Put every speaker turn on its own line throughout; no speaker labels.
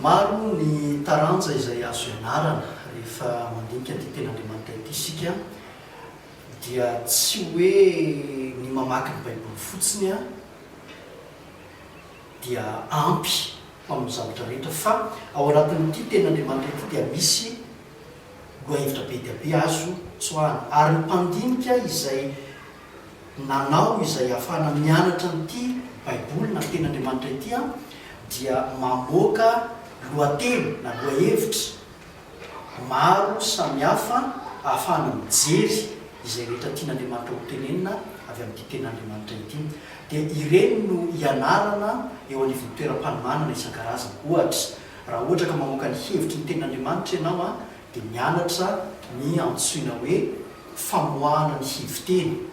Maro ny taranja izay azo ianarana rehefa mandinika ity Tenin'Andriamanitra ity isika dia tsy hoe ny mamaky ny Baiboly fotsiny dia ampy ho amin'ny zavatra rehetra fa ao anatin'ity Tenin'Andriamanitra ity dia misy lohahevitra be dia be azo tsoahana ary ny mpandinika izay nanao izay hahafahana mianatra an'ity Baiboly na Tenin'Andriamanitra ity aho, dia mamoaka lohateny na lohahevitra maro samihafa hahafahana mijery izay rehetra tian'Andriamanitra hotenenina avy amin'ity Tenin'Andriamanitra ity. Dia ireny no ianarana eo anivon'ny toeram-panomanana isan-karazany. Ohatra, raha ohatra ka mamoaka ny hevitry ny Tenin'Andriamanitra ianao, dia mianatra ny antsoina hoe famoahana ny heviteny.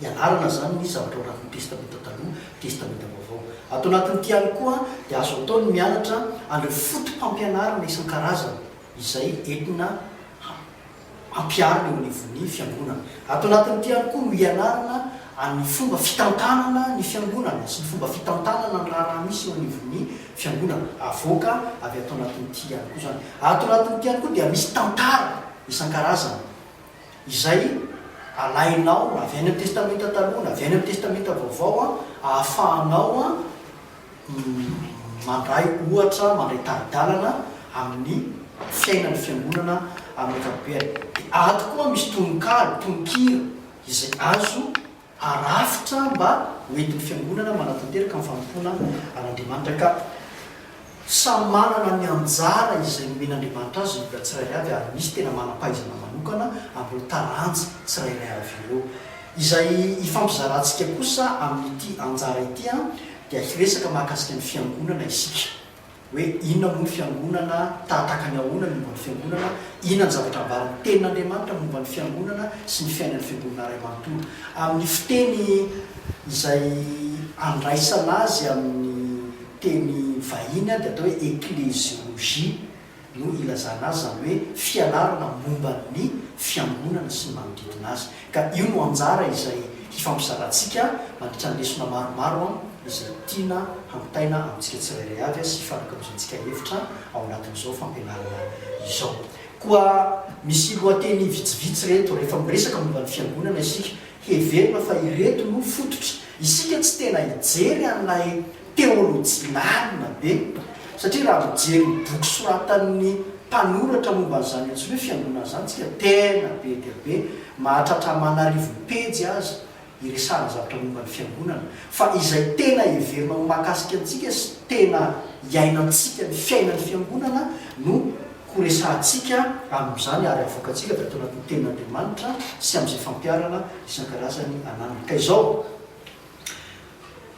Ianarana izany ny zavatra ao anatin'ny Testamenta Taloha, Testamenta Vaovao. Ato anatin'ity ihany koa dia azo atao ny mianatra an'ireo foto-pampianarana isan-karazany izay entina hampiharina eo anivon'ny Fiangonana. Ato anatin'ity ihany koa no ianarana ny fomba fitantanana ny Fiangonana sy ny fomba fitantanana ny raharaha misy eo anivon'ny. Fiangonana. Avoaka avy ato anatin'ity ihany koa izany. Ato anatin'ity ihany koa dia misy tantara isan-karazany izay alainao na avy any amin'ny Testamenta Taloha na avy any amin'ny Testamenta Vaovao ahafahanao mandray ohatra, mandray tari-dalana amin'ny fiainan'ny Fiangonana amin'ny ankapobeny. Dia ato koa misy tononkalo, tononkira izay azo harafitra mba ho entin'ny Fiangonana manatanteraka ny fanompoana an'Andriamanitra ka samy manana ny anjara izay nomen'Andriamanitra azy ny olona tsirairay avy ary misy tena manam-pahaizana manokana amin'ireo taranja tsirairay avy ireo. Izay hifampizarantsika kosa amin'ity anjara ity dia hiresaka mahakasika ny Fiangonana isika. hoe inona moa ny Fiangonana, tahataka ny ahoana ny momba ny Fiangonana, inona ny zavatra ambaran'ny Tenin'Andriamanitra momba ny Fiangonana sy ny fiainan'ny Fiangonana iray manontolo. Amin'ny fiteny izay andraisana azy amin'ny teny vahiny dia atao hoe eklesiologia no ilazana azy, izany hoe fianarana momba ny Fiangonana sy ny manodidina azy. Ka io no anjara izay hifampizarantsika mandritra ny lesona maromaro izay tiana hamintaina amintsika tsirairay avy sy hifampikaozantsika hevitra ao anatin'izao fampianarana izao. Koa misy lohateny vitsivitsy ireto, rehefa miresaka momba ny Fiangonana isika, Heverina fa ireto no fototry isika tsy tena hijery an'ilay teolojia lalina be, satria raha mijery ny boky soratan'ny mpanoratra momba an'izany antsoina hoe fiangonana izany isika, tena be dia be, mahatratra aman'arivony pejy aza iresahana zavatra momba ny fiangonana, fa izay tena heverina ho mahakasika antsika sy tena iainantsika ny fiainan'ny fiangonana no Ho resahantsika amin'izany ary havoakantsika avy ato anatin'ny Tenin'Andriamanitra sy amin'izay fampiharana isan-karazany ananany. Ka izao,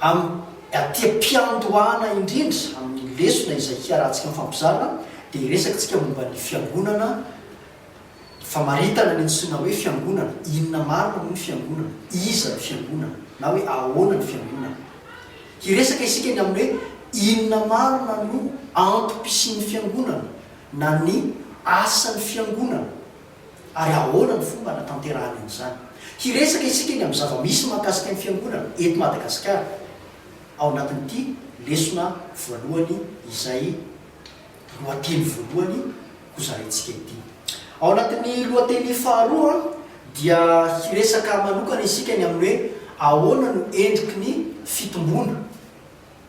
amin'ny aty am-piandohana indrindra amin'ny lesona izay hiarahantsika mifampizara, dia hiresaktsika momba ny Fiangonana, ny famaritana ny antsoina hoe Fiangonana, inona marina moa ny Fiangonana, iza ny Fiangonana, na hoe ahoana ny Fiangonana. Hiresaka isika ny amin'ny hoe inona marina no antom-pisian'ny Fiangonana na ny asan'ny Fiangonana ary ahoana ny fomba hanatanterahany an'izany. Hiresaka isika ny amin'ny zava-misy mahakasika ny Fiangonana eto Madagasikara ao anatin'ity lesona voalohany izay. lohateny voalohany hozahaintsika ity. Ao anatin'ny lohateny faharoa dia hiresaka manokana isika ny amin'ny hoe ahoana no endriky ny fitomboana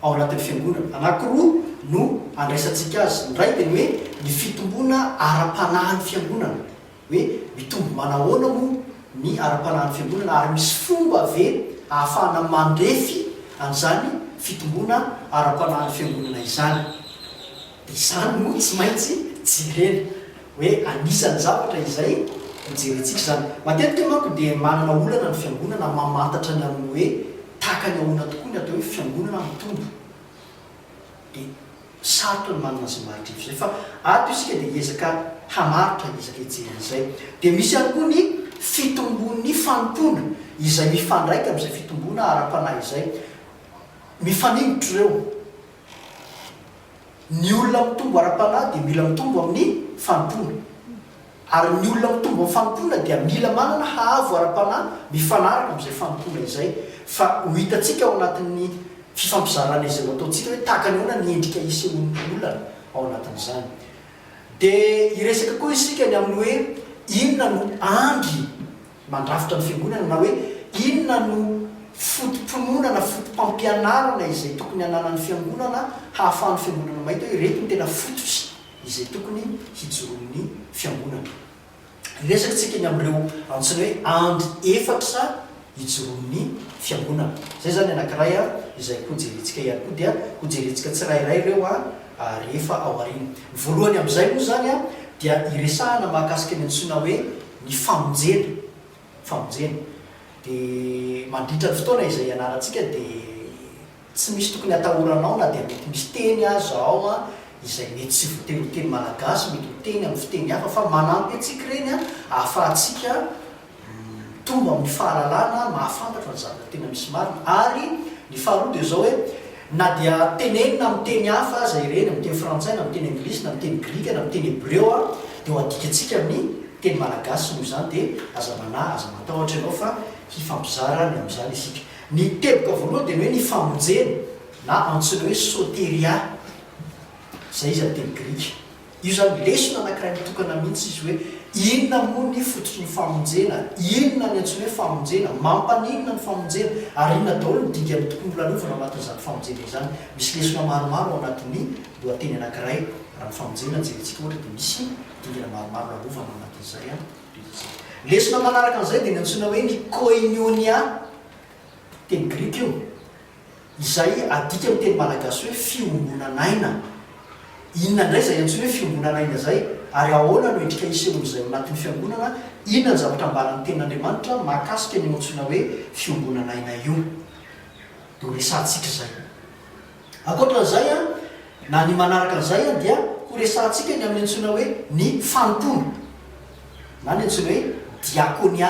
ao anatin'ny fiangonana. Anankiroa no andraisantsika azy. Ny iray dia ny hoe ny fitomboana ara-panahin'ny fiangonana. hoe mitombo manahoana moa ny ara-panahin'ny fiangonana ary misy fomba ve ahafahana mandrefy an'izany fitomboana ara-panahin'ny fiangonana izany. Dia izany no tsy maintsy jerena, hoe anisan'ny zavatra izay hojerentsika izany. Matetika manko dia manana olana ny fiangonana mamantatra ny amin'ny hoe takany ahoana tokoa ny atao hoe fiangonana mitombo. Dia. Sarotra ny manana izay maridrefy izay fa ato isika dia hiezaka hamaritra izay ezaka hijerena izay. Dia misy ihany koa ny fitombon'ny fanompoana izay mifandraika amin'izay fitomboana ara-panahy izay. Mifaningotra ireo. Ny olona mitombo ara-panahy dia mila mitombo amin'ny fanompoana. Ary ny olona mitombo amin'ny fanompoana dia mila manana haavo ara-panahy mifanaraka amin'izay fanompoana izay, fa ho hitantsika ao anatin'ny fifampizarana izay ho ataontsika hoe tahaka ny ahoana ny endrika isehoan'ny olana ao anatin'izany. Dia hiresaka koa isika ny amin'ny hoe inona no andry mandrafitra ny fiangonana na hoe inona no foto-pinoana na foto-pampianarana izay tokony hananan'ny fiangonana hahafahan'ny fiangonana mahita hoe ireto no tena fototry izay tokony hijoroan'ny fiangonana. Hiresaka isika ny amin'ireo antsoina hoe andry efatra hijoroan'ny fiangonana. Izay izany ny anankiray izay hojerentsika ihany koa dia hojerentsika tsirairay ireo rehefa ao aoriana. Ny voalohany amin'izay moa izany dia hiresahana mahakasika ny antsoina hoe ny famonjena. Famonjena. Dia mandritra ny fotoana izay hianarantsika dia Tsy misy tokony atahoranao na dia mety misy teny aza ao izay mety tsy voateny ho teny malagasy, mety ho teny amin'ny fiteny hafa fa manampy antsika ireny ahafahantsika mitombo amin'ny fahalalana, mahafantatra ny zavatra tena misy marina ary ny faharoa dia izao hoe na dia tenenina amin'ny teny hafa aza ireny, amin'ny teny frantsay na amin'ny teny anglisy na amin'ny teny grika na amin'ny teny hebreo dia ho adikantsika amin'ny teny malagasy noho izany dia aza manahy, aza matahotra ianao fa hifampizara ny amin'izany isika. Ny teboka voalohany dia ny hoe ny famonjena na antsoina hoe soteria, izay izy amin'ny teny grika. Io izany lesona anankiray mitokana mihitsy izy hoe inona moa ny fototry ny famonjena, inona ny antsoina hoe famonjena, mampaninona ny famonjena ary inona daholo ny dingana tokony holalovina ao anatin'izany famonjena izany. Misy lesona maromaro ao anatin'ny lohateny anankiray. Raha ny famonjena no jerentsika ohatra dia misy dingana maromaro lalovana ao anatin'izay. Betsy. Lesona manaraka an'izay dia ny antsoina hoe ny Koinionia, teny grika io, izay adika amin'ny teny malagasy hoe fiombonan'aina. Inona indray izay antsoina hoe fiombonan'aina izay, ary ahoana no endrika isehoan'izay ao anatin'ny fiangonana? Inona ny zavatra ambaran'ny Tenin'Andriamanitra mahakasika an'io antsoina hoe fiombonan'aina io no resahantsika izay? Ankoatra an'izay, na ny manaraka an'izay, dia ho resahantsika ny amin'ny antsoina hoe ny fanompoana, na ny antsoina hoe diakônia,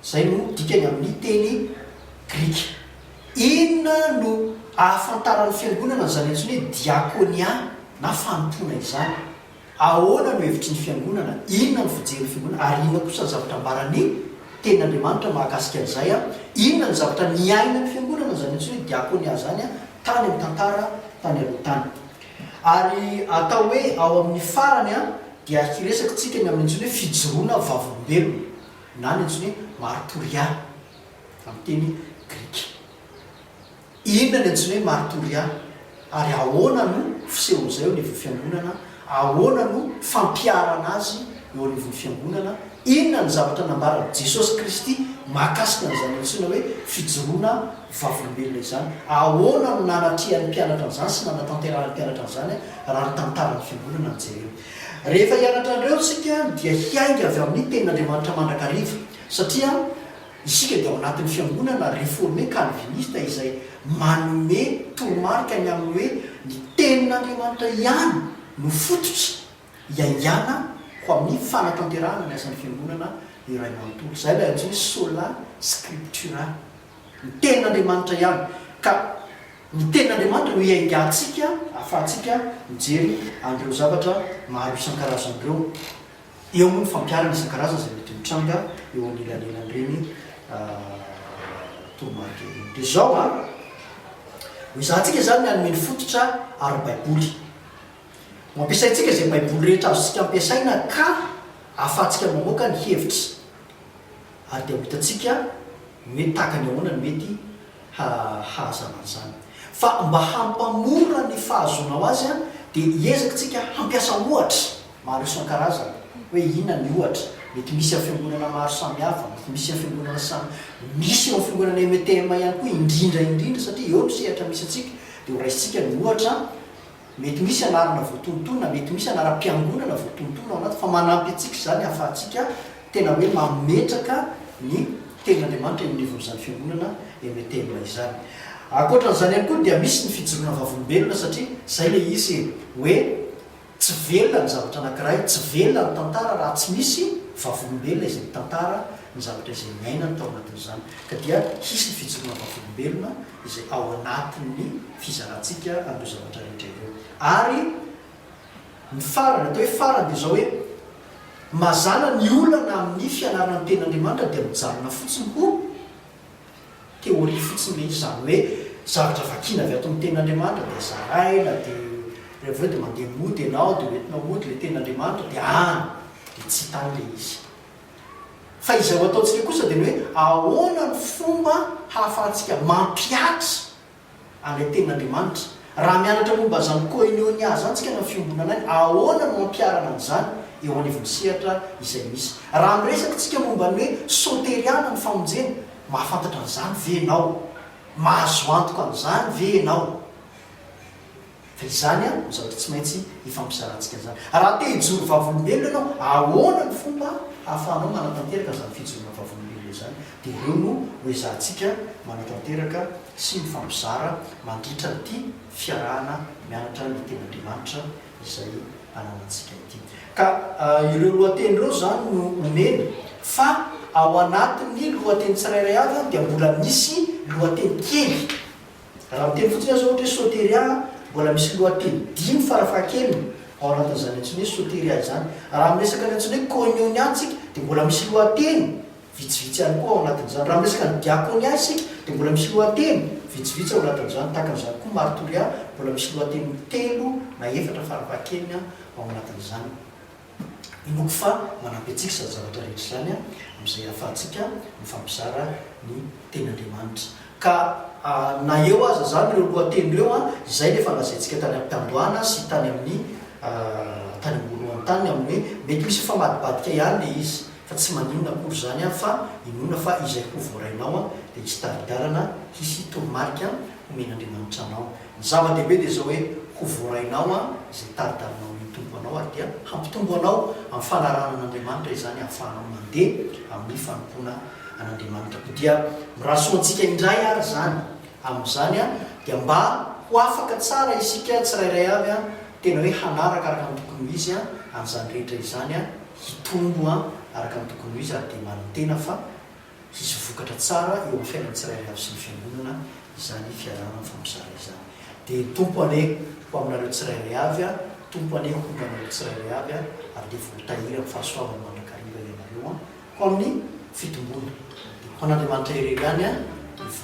izay no dikany amin'ny teny grika. Inona no ahafantaran'ny Fiangonana an'izany antsoina hoe diakônia na fanompoana izany? Ahoana no hevitry ny Fiangonana? Inona no fijerin'ny Fiangonana? Ary inona kosa ny zavatra ambaran'ny Tenin'Andriamanitra mahakasika an'izay? Inona no zavatra niainan'ny Fiangonana, izany antsoina hoe Diakonia izany, tany amin'ny tantara tany aloha tany? Ary atao hoe ao amin'ny farany dia hiresaka tsika ny amin'ny antsoina hoe fijoroana vavolombelona, na ny antsoina hoe martorià amin'ny teny grika. Inona ny antsoina hoe martoria, ary ahoana no fisehon'izay eo anivon'ny Fiangonana? Ahoana no fampiharana azy eo anivon'ny Fiangonana? Inona ny zavatra nambaran'i Jesosy Kristy mahakasika an'izany antsoina hoe fijoroana vavolombelona izany? Ahoana no nanatrehan'ny mpianatra an'izany sy nanatanterahan'ny mpianatra an'izany raha ny tantaran'ny Fiangonana no jerena? Rehefa hianatra an'ireo isika dia hiainga avy amin'ny Tenin'Andriamanitra mandrakariva, satria. Isika dia ao anatin'ny fiangonana reforme kalvinista izay manome toromarika ny amin'ny hoe ny Tenin'Andriamanitra ihany no fototra iaingana ho amin'ny fanatanterahana ny asan'ny fiangonana iray manontolo. Izay ilay antsoina sola scriptura, ny Tenin'Andriamanitra ihany. Ka ny Tenin'Andriamanitra no iaingantsika ahafahantsika mijery an'ireo zavatra maro isan-karazany ireo. Eo moa ny fampiharana isan-karazany izay mety mitranga eo anelanelan'ireny toromarika ireny. Dia izao an, ho ezahantsika izany ny hanome ny fototra ara-baiboly. Ho ampiasaintsika izay Baiboly rehetra azontsika ampiasaina ka ahafahantsika mamoaka ny hevitra. Ary dia ho hitantsika ny hoe tahaka ny ahoana no mety hahazavana izany. Fa mba hampamora ny fahazoanao azy dia hiezaka isika hampiasa ohatra maro isan-karazany. Hoe inona ny ohatra? Mety misy amin'ny fiangonana maro samihafa, mety misy amin'ny fiangonana samy, misy eo amin'ny fiangonana MTM ihany koa indrindra indrindra satria eo no sehatra misy antsika. Dia horaisintsika ny ohatra Mety ho misy anarana voatontoina, mety ho misy anaram-piangonana voatontoina ao anaty, fa manampy antsika izany hahafahantsika tena hoe mametraka ny Tenin'Andriamanitra eny anivon'izany fiangonana MTM izany. Ankoatra an'izany ihany koa dia misy ny fijoroana vavolombelona satria izay ilay izy e, hoe tsy velona ny zavatra anankiray, tsy velona ny tantara raha tsy misy vavolombelona izay mitantara ny zavatra izay niainany tao anatin'izany. Ka dia hisy ny fijoroana vavolombelona. izay ao anatin'ny fizarantsika an'ireo zavatra rehetra ireo. Ary ny farany, atao hoe farany dia izao hoe, mazàna ny olana amin'ny fianarana ny Tenin'Andriamanitra dia mijanona fotsiny ho théorie fotsiny ilay izy, izany hoe zavatra vakiana avy ato amin'ny Tenin'Andriamanitra dia zaraina, dia dia avy eo dia mandeha mody ianao dia hoentinao mody ilay Tenin'Andriamanitra dia any dia tsy tany ilay izy. Fa izay ho ataontsika kosa dia ny hoe ahoana no fomba hahafahantsika mampihatra an'ilay Tenin'Andriamanitra. Raha mianatra momba izany koinônia izany isika na ny fiombonana aina, ahoana no ampiharana an'izany eo anivon'ny sehatra izay misy. Raha miresaka isika momba ny hoe sôteriàna ny famonjena, mahafantatra an'izany ve ianao? Mahazo antoka an'izany ve ianao? Fa izany no zavatra tsy maintsy hifampizarantsika an'izany. Raha te hijoro vavolombelona ianao, ahoana no fomba ahafahanao manatanteraka an'izany fijoroana vavolombelona izany? Dia ireo no hoezahantsika manatanteraka sy mifampizara mandritra an'ity fiarahana mianatra ny Tenin'Andriamanitra izay ananantsika ity. Ka ireo lohateny ireo izany no omena, fa ao anatin'ny lohateny tsirairay avy dia mbola misy lohateny kely. Raha miteny fotsiny aza ohatra hoe soteria, mbola misy lohateny dimy farafahakeliny ao anatin'izany antsoina hoe soteria izany. Raha miresaka ny antsoina hoe koinonia isika dia mbola misy lohateny vitsivitsy ihany koa ao anatin'izany. Raha miresaka ny diakonia isika dia mbola misy lohateny vitsivitsy ao anatin'izany. Tahaka an'izany koa ny maritoria, mbola misy lohateny telo na efatra farafahakeliny ao anatin'izany. Inoako fa manampy antsika izany zavatra rehetra izany amin'izay ahafahantsika mifampizara ny Tenin'Andriamanitra. Ka na eo aza izany ireo lohateny ireo, izay no efa nolazaintsika tany am-piandohana sy tany amin'ny tany am-boalohany tany, amin'ny hoe mety misy mifamadibadika ihany ilay izy, fa tsy maninona akory izany, fa inoana fa izay ho voarainao dia hisy tari-dalana, hisy toromarika homen'Andriamanitra anao. Ny zava-dehibe dia izao hoe, ho voarainao izay tari-darinao ny Tompo anao ary dia hampitombo anao amin'ny fanarahana an'Andriamanitra izany ahafahanao mandeha amin'ny fanompoana an'Andriamanitra. Koa dia miraso antsika indray ary izany. Amin'izany dia mba ho afaka tsara isika tsirairay avy tena hoe hanaraka araka ny tokony ho izy an'izany rehetra izany, hitombo araka ny tokony ho izy ary dia manantena fa. Hisy vokatra tsara eo amin'ny fiainan'ny tsirairay avy sy ny Fiangonana izany fiarahana mifampizara izany. Dia Tompo anie ho aminareo tsirairay avy an, Tompo anie ho tonga aminareo tsirairay avy an, ary dia voatahiry amin'ny fahasoavany mandrakariva ianareo an, ho amin'ny fitomboana. Dia ho an'Andriamanitra irery ihany an, ny voninahitra.